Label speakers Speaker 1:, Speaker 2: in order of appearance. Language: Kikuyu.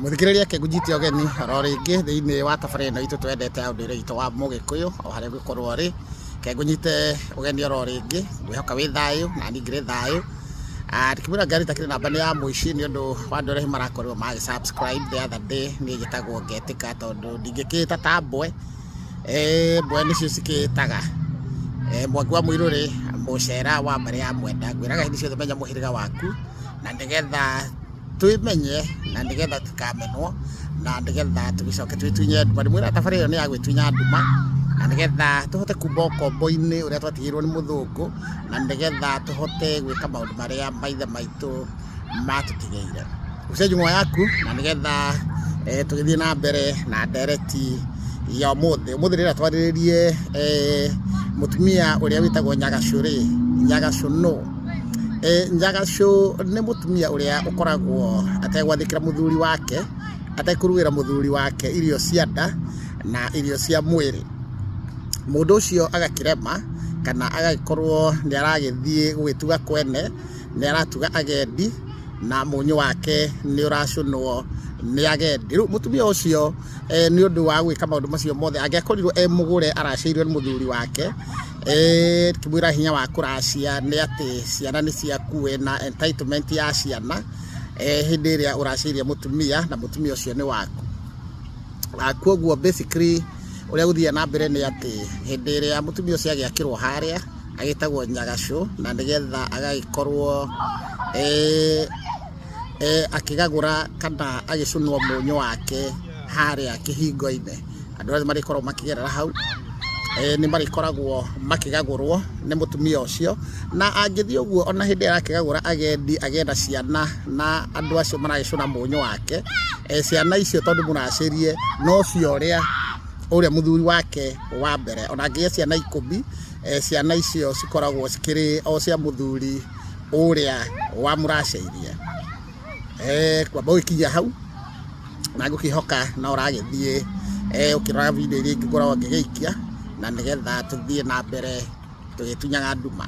Speaker 1: Mũthikĩrĩria akĩnjĩtia ũgeni oro rĩngĩ thĩinĩ wa tabarĩra ĩno itũ twendete ya ũndũire witũ wa mũgĩkũyũ o harĩa ũngĩkorwo ũrĩ, reke ngũnyite ũgeni oro rĩngĩ ngwĩhoka wĩ thayũ na niĩ ngĩrĩ thayũ. Ndingĩmwĩra Ngarĩ itakĩrĩ namba nĩ ya mũici nĩ ũndũ wa andũ arĩa hihi marakorirwo magĩ subscribe the other day niĩ njĩtagwo Ngetĩka tondũ ndingĩkĩĩta Tambwe. mbwe nĩcio cikĩĩtaga eh, mwaki wa mũirũ rĩ mũcera wa mbarĩ ya mwenda ngwĩraga hĩndĩ ciothe menya mũhĩrĩga waku na nĩgetha twĩmenye na nĩgetha tũkamenwo na nĩgetha tũgĩcoke twĩtunye nduma ndĩmwĩra thabarĩ ĩyo nĩ ya gwĩtunya nduma na nĩgetha tũhote kumba ũkombo-inĩ ũrĩa twatigĩirwo nĩ mũthũngũ na nĩgetha tũhote gwĩka maũndũ marĩa maithe maitũ matũtigĩire gũcenjia nguo yaku na nĩgetha eh, tũgĩthiĩ na mbere na ndereti ya ũmũthĩ ũmũthĩ rĩrĩa twarĩrĩrie eh, mũtumia ũrĩa wĩtagwo nyagacũ rĩ nyagacũ no eh, nyagacũ nĩ mũtumia ũrĩa ũkoragwo ategwathĩkĩra mũthuri wake atekũruĩra mũthuri wake irio cia nda na irio cia mwĩrĩ mũndũ ũcio agakĩrema kana agagĩkorwo nĩ aragĩthiĩ gũgĩtuga kwene nĩ aratuga agendi na mũnyũ wake nĩ ũracũnwo nĩ agendi rĩu mũtumia ũcio eh, nĩ ũndũ wa gwĩka maũndũ macio mothe angĩakorirwo e mũgũre aracĩirwo nĩ mũthuri wake eh, kĩmwĩra hinya wa kũracia nĩ atĩ ciana nĩ ciaku we na entitlement ya ciana eh, hĩndĩ ĩrĩa ũracĩirie mũtumia na mũtumia ũcio nĩ waku Ah, kwoguo basically ũrĩa gũthiaga na mbere nĩ atĩ hĩndĩ ĩrĩa mũtumia ũcio agĩakĩrwo harĩa agĩtagwo nyagacũ na nĩgetha agagĩkorwo eh, eh, akĩgagũra kana agĩcũnwo mũnyũ wake harĩa kĩhingo-inĩ andũ arĩa marĩkoragwo makĩgerera hau eh, nĩ marĩkoragwo makĩgagũrwo nĩ mũtumia ũcio na angĩthiĩ ũguo ona hĩndĩ ĩrĩa arakĩgagũra agendi agenda ciana na andũ acio maragĩcũna mũnyũ wake eh, ciana icio tondũ mũracĩrie no cio ũrĩa ũrĩa mũthuri wake wa mbere ona angĩgĩa ciana ikũmi eh, ciana icio cikoragwo cikĩrĩ o cia mũthuri ũrĩa wamũracĩirie eh, kwamba ũgĩkinya hau na ngũkĩhoka na ũragĩthiĩ eh, ũkĩrora video iria ingĩ ngoragwo ngĩgĩikia na nĩgetha tũthiĩ na mbere tũgĩtunyaga nduma